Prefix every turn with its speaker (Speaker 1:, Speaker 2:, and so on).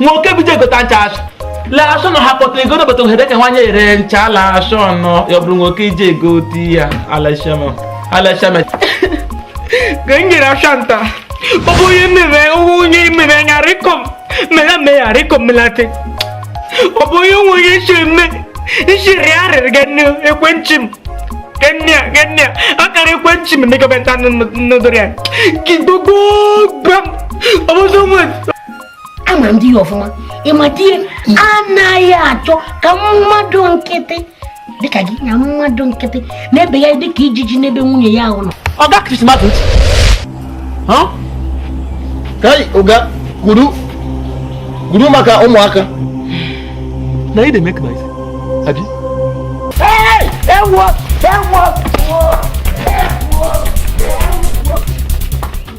Speaker 1: nwa oke bido egota ncha asụ lee asụ na ha kpọtara ego n'obodo ohere ka nwanyị ere ncha ala asụ ọnụ ya bụrụ nwoke iji ego ti ya alashama alashama ka m nyere asụ nta ọ bụ onye mere onye mere ya rịkọm mere me ya rịkọm melate ọ bụ onye nwe onye isi eme isi rịa arịrị ga nne ekwentị m kenya kenya akara ekwentị m ndị gọọmenti anụ nụdụrụ ya kidogo gbam ọbụzọ nwere ama m di ya ọfụma ị ma di ya anaghị achọ ka mmadụ nkịtị dịka gị na mmadụ nkịtị na-ebe ya dịka ijiji n'ebe nwunye ya ahụ nọ ọga krismas ntị kai oga guru guru maka ụmụaka na ị na-eme ka isi abi ewo ewo